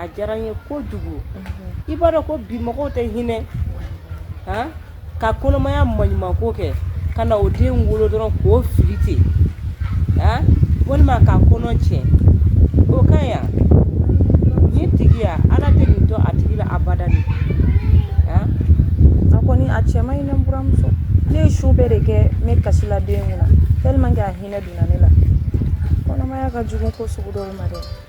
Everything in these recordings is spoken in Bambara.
a diyara n ye kojugu i b'a dɔn ko bi mɔgɔw tɛ hinɛ ka kɔnɔmaya maɲuman ko kɛ ka na o den wolo dɔrɔn k'o fili ten walima ka kɔnɔ tiɲɛ o ka yan ni tigiya ala tɛ nin to a tigi la abada dɛ a kɔni a cɛ man ɲi ne buramuso ne ye su bɛɛ de kɛ n bɛ kasi la den kunna tellement que a hinɛ donna ne la kɔnɔmaya ka jugu ko sugu dɔw ma dɛ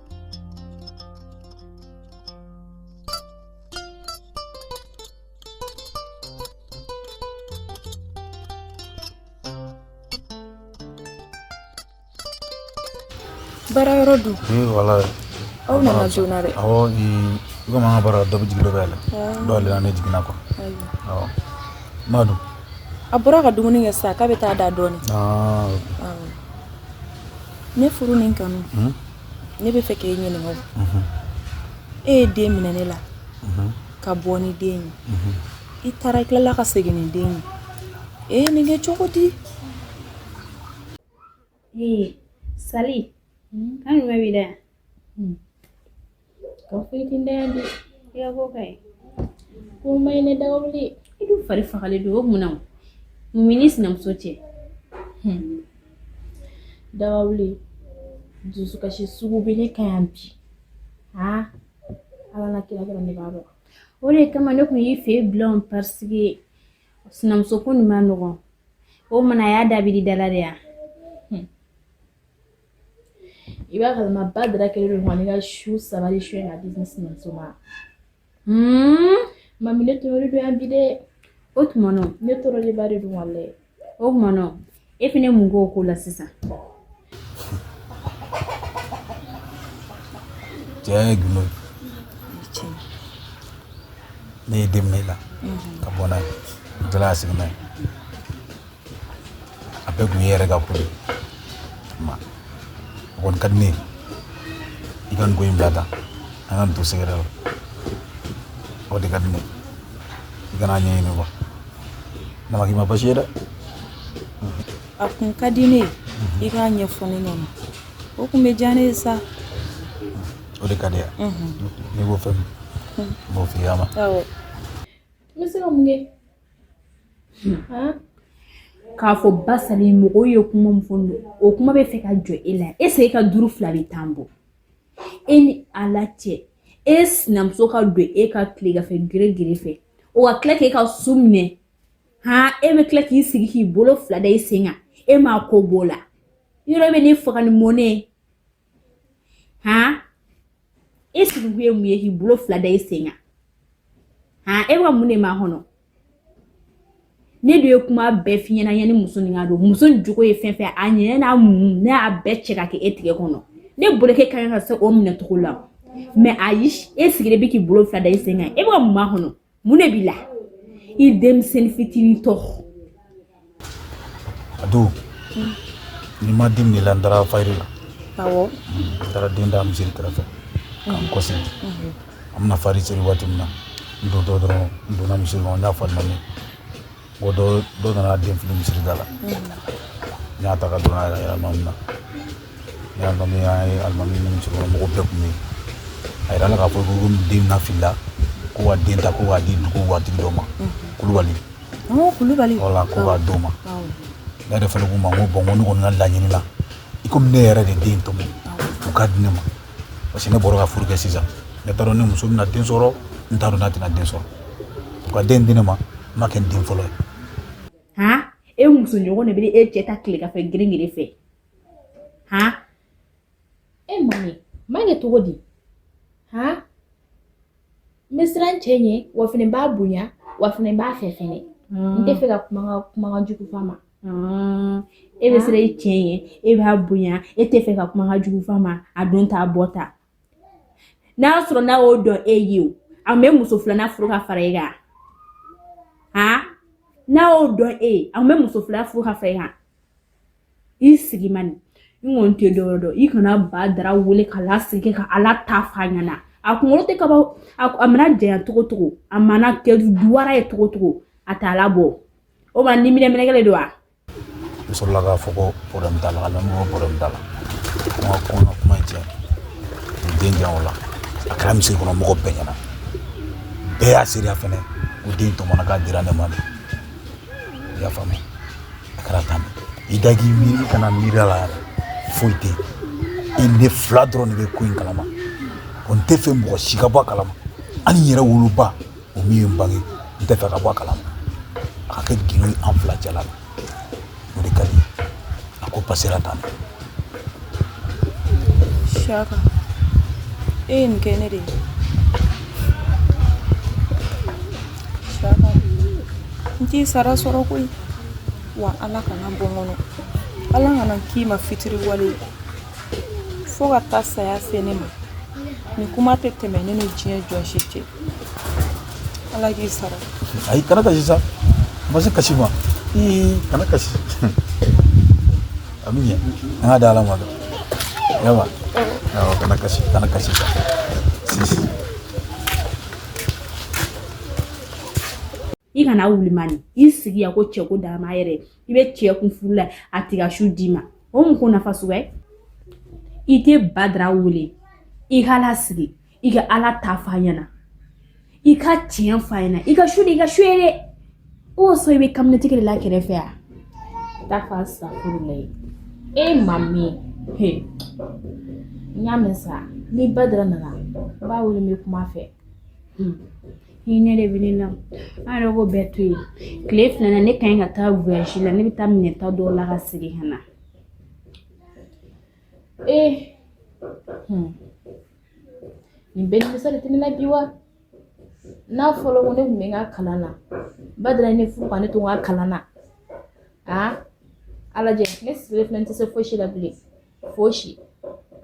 baara yɔrɔ dun wala aw nana joona dɛ awɔ komi an ka baara dɔ bɛ jigin dɔ bɛ la dɔw yɛrɛ ne jiginna quoi awɔ ma dun a bɔra ka dumuni kɛ sisan k'a bɛ taa da dɔɔni ne furu ni kanu ne bɛ fɛ k' e ɲininka e ye den minɛ ne la ka bɔ ni den ye i taara i tilala ka segin ni den ye e nin kɛ cogo di ee sa an bɛ bɛ da hmm. ka foyitin da yan de ya ko kai komai na daure idu fari fagali do mun na mun b'i ni sinamuso cɛ hmm. daure dusukasi sugu bele kayan bi ha ala na kira kira ne ba ba o de kama ne kun y'i fɛ yen bilan parce que sinamuso ko nin man nɔgɔn o mana a y'a dabiri dala de yan i b'a kalama badara kɛlen don ka ne ka su saba de suɲɛ ka di ne sinamuso ma mami ne tɔɔrɔlen don yan bi dɛ o tuma nɔ ne tɔɔrɔlenba de don wale o tuma nɔ e fɛnɛ mun k'o ko la sisan cɛ ye gundo ye ne ye den minɛ i la ka bɔ n'a ye n taara a sigi n'a ye a bɛɛ kun ye yɛrɛ ka ko ye ma o kɔni ka di ne ye i ka nin ko in bila tan an ka nin to sɛgɛrɛ la o de ka di ne i kana ɲɛɲini kuwa nama k'i ma basi ye dɛ a kun ka di ne ye i k'a ɲɛfɔ ne ɲɛna o kun bɛ diya ne ye sa o de ka di yan n'i ko fɛn min n b'o f'i ye a ma n bɛ se ka mun kɛ k'a fɔ ba sali mɔgɔw ye kuma min fɔ o kuma bɛ fɛ ka jɔ e la est-ce e ka duuru fila bɛ tan bɔ e ni ala cɛ e sinamuso ka don e kan tilegan fɛ gere gere fɛ o ka tila k'e ka su minɛ han e bɛ tila k'i sigi k'i bolo fila da i sen kan e ma ko b'o la yɔrɔ bɛ ne faga ni mɔnɛ han e sigikun ye mun ye k'i bolo fila da i sen kan han e bɛ ka mun de makɔnɔ ne dun ye kuma bɛɛ f'i ɲɛna yanni muso nin ka don muso nin jogo ye fɛn fɛn a ɲɛɲɛ n'a mugu ne y'a bɛɛ cɛ ka kɛ e tigɛ kɔnɔ ne bolo k'e ka kan ka se o minɛ cogo la mais ayi e sigilen bɛ k'i bolo fila da i sen kan e bɛ ka mun makɔnɔ mun de b'i la i denmisɛnnin fitinin tɔ a don n'i ma den minɛ i la n taara fayiri la awɔ n taara den da misiri kɛrɛfɛ ka n kɔsegin an bɛna fayiri seri waati min na n dontɔ dɔrɔn n donna misiri kɔnɔ n y'a fɔ alimami ko dɔ nana den fili misiri da la n y'a ta ka don n'a ye alimami na ne y'a mɛn an ye alimami ni misiri kɔnɔ mɔgɔ bɛɛ kun bɛ yen a yirala k'a fɔ ko ni den na filila ko ka den ta ko k'a di dugu waatigi dɔ ma kulubali Ɔɔ, kulubali wala ko k'a d'o ma Awɔ. ne yɛrɛ fana k'u ma n ko bon n ko ne kɔni ka laɲini la i komi ne yɛrɛ de den tɔmɔ u k'a di ne ma parce que ne bɔra ka furu kɛ sisan ne t'a dɔn ni muso bɛna den sɔrɔ n t'a dɔn n'a tɛna den sɔrɔ u ka den di ne ma n b'a kɛ n den fɔlɔ ye han e muso ɲɔgɔn de bɛ e cɛ ta tilegan fɛ girin girin fɛ han e ma ɲɛ ma ɲɛ cogo di han n bɛ siran n cɛ ɲɛ wa fɛnɛ n b'a bonya wa fɛnɛ n b'a fɛ fɛnɛ n tɛ fɛ ka kuma ka kumakan jugu f'a ma e bɛ siran i cɛ ɲɛ e b'a bonya e tɛ fɛ ka kumakan jugu f'a ma a don t'a bɔ ta n'a y'a sɔrɔ n'a y'o dɔn e ye o a kun bɛ muso filanan furu ka fara e kan ha n'a y'o dɔn e ye a kun bɛ muso filanan furu ka fara e kan i sigi man di n kɔni tɛ dɔwɛrɛ dɔn i kana Badara wele k'a lasigi ka ala ta f'a ɲɛna a kunkolo tɛ kaba a mana janya cogo cogo a mana kɛ duwara ye cogo cogo a t'a labɔ o ma ni minɛ minɛkɛle don wa n sɔrɔla k'a fɔ ko problème t'a la k'a lamɛn ko problème t'a la n ka kuma kuma cɛ n den jan o la a kɛra misiri kɔnɔ mɔgɔ bɛɛ ɲɛna bɛɛ y'a seereya fɛnɛ ko den tɔmɔna k'a dira ne ma de i y'a faamu a kɛra tan i da k'i miiri i kana miiri a la yɛrɛ foyi tɛ i ne fila dɔrɔn de bɛ ko in kalama ko n tɛ fɛ mɔgɔ si ka bɔ a kalama hali n yɛrɛ woloba o min ye n bange n tɛ fɛ ka bɔ a kalama a ka kɛ gindo ye an fila cɛla la o de ka di a ko pasera tan Siyaka e ye nin kɛ ne de ye n t'i sara sɔrɔ koyi wa ala kan'a bɔ n kɔnɔ ala kana n k'i ma fitiriwale ye fo ka taa saya se ne ma nin kuma tɛ tɛmɛ ne ni diɲɛ jɔn si cɛ ala k'i sara ayi kana kasi sa a ma se kasi ma kana kasi a bɛ ɲɛ an k'a da ala ma dɔn yawa awɔ kana kasi kana kasi sisi i kana wuli mani i sigi yan ko cɛko dama yɛrɛ i bɛ cɛ kun furu la a t'i ka su d'i ma o mun ko nafa suguya ye i tɛ badara wele i k'a lasigi i ka ala ta fɔ a ɲɛna i ka tiɲɛ fɔ a ɲɛna i ka su de i ka su ye dɛ o sɔrɔ i bɛ kaminɛtigi de la kɛrɛfɛ a ta fɔ a sa furu la ye e m'a mɛn he n y'a mɛn sa ni badara nana n b'a wele n bɛ kuma a fɛ hinɛ de bɛ ne na an yɛrɛ ko bɛɛ to yen tile fila na ne ka ɲi ka taa voyage la ne bɛ taa minɛn ta dɔw la ka segin ka na ee nin bɛɛ nimisa de tɛ ne la bi wa n'a fɔra ko ne tun bɛ n ka kalan na badara ye ne furu ka ne to n ka kalan na a ala jɛ ne sigilen filɛ n tɛ se fosi la bilen fosi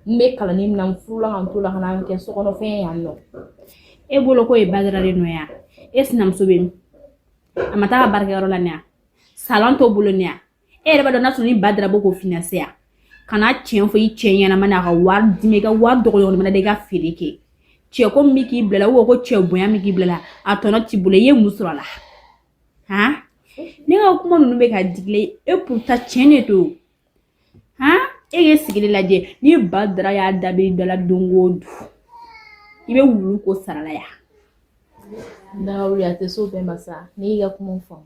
n bɛ kalanni min na n furula ka n to o la ka na kɛ sokɔnɔfɛn ye yan nɔ e bolo ko ye badara de nɔ ya e sinamuso bɛ min a ma taa a ka baarakɛyɔrɔ la ne ya salon t'o bolo ne ya e yɛrɛ b'a dɔn n'a sɔrɔ ni badara b'o ko finanse yan kana tiɲɛ fɔ i cɛ ɲɛna ma n'a ka wari d'i ma i ka wari dɔgɔyɔrɔ mana da i ka feere kɛ cɛko min bɛ k'i bila la ko cɛ bonya min k'i bila la a tɔnɔ t'i bolo i ye mun sɔrɔ a la han ne ka kuma ninnu bɛ ka dig'i la e pourtant tiɲɛ de don han e k'e sigili lajɛ ni badara y'a dabi dɔ la don o don i bɛ wuli k'o sarala yan. daga wuli a tɛ so bɛɛ ma sa ne y'i ka kuma faamu.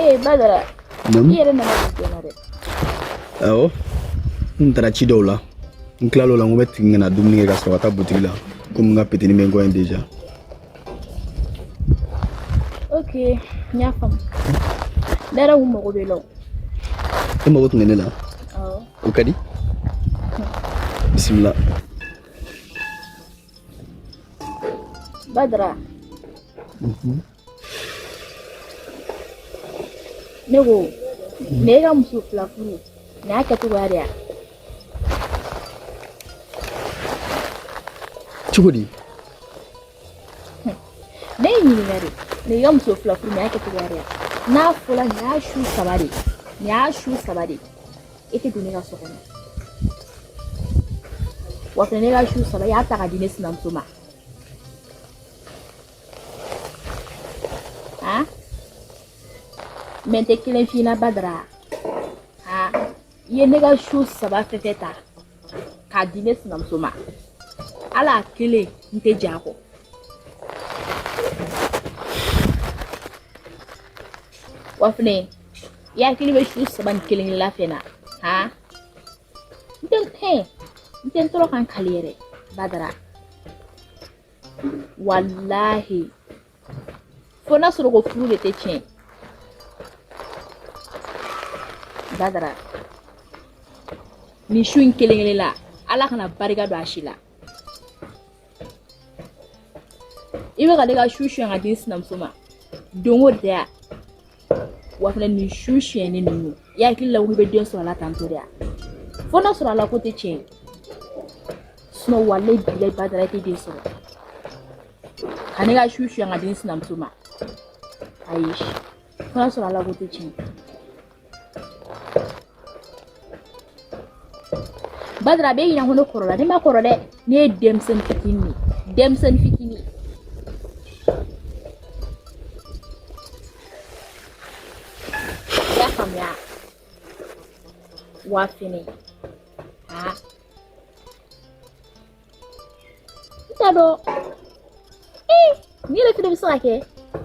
Eh, badara. Naamu. I yɛrɛ nana joona dɛ. Awɔ. N taara ci dɔw la. N tilal'o la n ko n bɛ tigi ka na dumuni kɛ ka sɔrɔ ka taa butigi la. Komi n ka petini bɛ n kɔ yen déjà. Ok, n y'a faamu. Ne yɛrɛ tun mago b'i la o. E mago tun bɛ ne la. ka di bisimila badara mhm. ne ko ne e ka muso fila furu nin y'a kɛcogoya de ya cogo di ne y'e ɲininka de e ka muso fila furu nin y'a kɛcogoya de ye n'a fɔla nin y'a su saba de ye nin y'a su saba de ye e tɛ don ne ka so kɔnɔ wa fɛnɛ ne ka su saba i y'a ta ka di ne sinamuso ma han mais n tɛ kelen f'i ɲɛna badara han i ye ne ka su saba fɛn fɛn ta k'a di ne sinamuso ma hali a kelen n tɛ jɛn a kɔ wa fɛnɛ i hakili bɛ su saba nin kelen kelen la fɛnɛ ha n tɛ hɛn n tɛ n tɔɔrɔ ka n kali yɛrɛ badara walahi fo n'a sɔrɔ ko furu de tɛ tiɲɛ badara nin su in kelen kelen la ala kana barika don a si la i bɛ ka ne ka su suɲɛ ka di sinamuso ma don o da yan wa fana nin su siyɛnni ninnu i hakili la ko i bɛ den sɔrɔ a la tantɔ de yan fo n'a sɔrɔ ala ko tɛ tiɲɛ ye sinɔn walahi bilahi badara i tɛ den sɔrɔ ka ne ka su suɲɛ ka di n sinamuso ma ayi fo n'a sɔrɔ ala ko tɛ tiɲɛ badara a b'i ɲɛna ko ne kɔrɔla ne ma kɔrɔ dɛ ne ye denmisɛnnin fitinin de ye denmisɛnnin fitinin i y'a faamuya wa fɛnɛ aa n t'a dɔn ee n'i yɛrɛ fɛnɛ bɛ se ka kɛ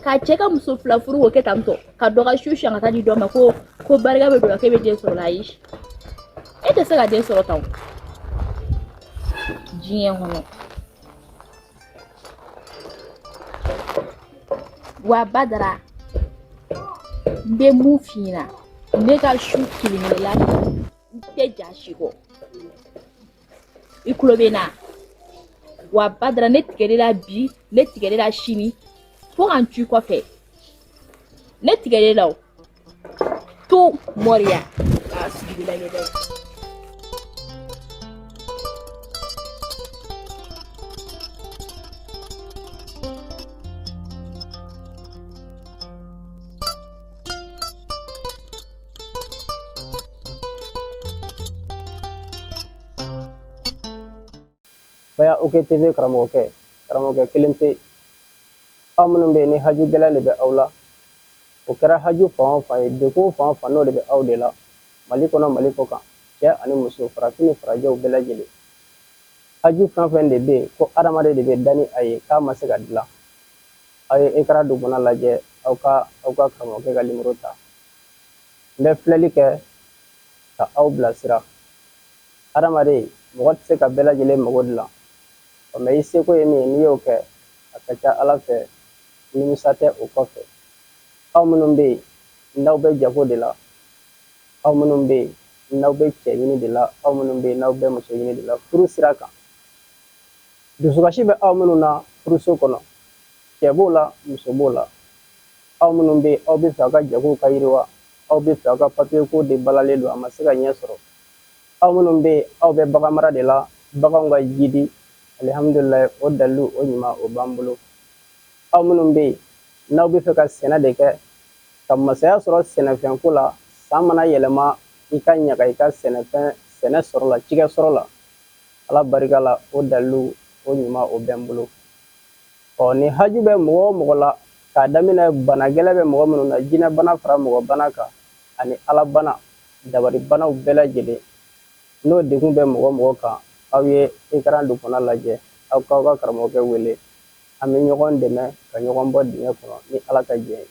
ka cɛ ka muso fila furu k'o kɛ tantɔ ka dɔ ka su suɲɛ ka taa di dɔ ma ko ko barika bɛ don a la k'e bɛ den sɔrɔ a la ayi e tɛ se ka den sɔrɔ tan o diɲɛ kɔnɔ wa badara n bɛ mun f'i ɲɛna ne ka su kelen-kelenna n tɛ jɛn a si kɔ i kulo bɛ n na wa badara ne tigɛli la bi ne tigɛli la sini fo ka n to i kɔfɛ ne tigɛli la o to mɔriya k'a sigi la ɲɛdɛ Baya OK TV karamɔgɔkɛ karamɔgɔkɛ kelen pe aw minnu bɛ yen ni haju gɛlɛn de bɛ aw la o kɛra haju fan fan ye de ko fan fan n'o de bɛ aw de la mali kɔnɔ mali kɔ kan cɛ ani muso farafin ni farajɛw bɛɛ lajɛlen haju fɛn fɛn de bɛ yen ko hadamaden de bɛ dan ni a y'a kɛ a ma se ka dilan aw ye Ikra dubuna lajɛ aw ka aw ka karamɔgɔkɛ ka nimɔrɔ ta n bɛ filɛli kɛ ka aw bilasira hadamaden mɔgɔ tɛ se ka bɛɛ lajɛlen mago dilan ɔ mɛ i seko ye min ye n'i y'o kɛ a ka ca ala fɛ nimisa tɛ o kɔfɛ aw minnu bɛ yen n'aw bɛ jago de la aw minnu bɛ yen n'aw bɛ cɛ ɲini de la aw minnu bɛ yen n'aw bɛ muso ɲini de la furu sira kan dusukasi bɛ aw minnu na furuso kɔnɔ cɛ b'o la muso b'o la aw minnu bɛ aw bɛ fɛ aw ka jago ka yiriwa aw bɛ fɛ aw ka papiye ko de balalen don a ma se ka ɲɛ sɔrɔ aw minnu bɛ aw bɛ bagan mara de la baganw ka jidi alihamdulila o dalu o ɲuman o b'an bolo aw minnu bɛ yen n'aw bɛ fɛ ka sɛnɛ de kɛ ka masaya sɔrɔ sɛnɛfɛn ko la san mana yɛlɛma i ka ɲaga i ka sɛnɛfɛn sɛnɛ sɔrɔ la cikɛ sɔrɔ la ala barika la o dalu o ɲuman o bɛ n bolo Ɔ ni haju bɛ mɔgɔ o mɔgɔ la k'a daminɛ bana gɛlɛn bɛ mɔgɔ minnu na jinɛbana fara mɔgɔbana kan ani alabana dabalibanaw bɛɛ lajɛlen n'o degun bɛ mɔgɔ o mɔgɔ kan aw ye ekran duguma lajɛ aw k'aw ka karamɔgɔkɛ wele an bɛ ɲɔgɔn dɛmɛ ka ɲɔgɔn bɔ dingɛ kɔnɔ ni ala ka jɛn ye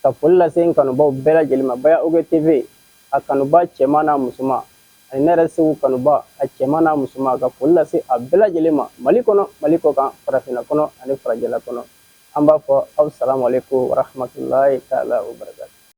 ka foli lase n kanubaw bɛɛ lajɛlen ma baya oge tv a kanuba cɛman n'a musoman Ani ne yɛrɛ segu kanuba a cɛman n'a musoman ka foli lase a bɛɛ lajɛlen ma mali kɔnɔ mali kɔkan farafinna kɔnɔ ani farajɛla kɔnɔ an b'a fɔ asalamu alayikumu wa rahamatulahi taala wa barakatu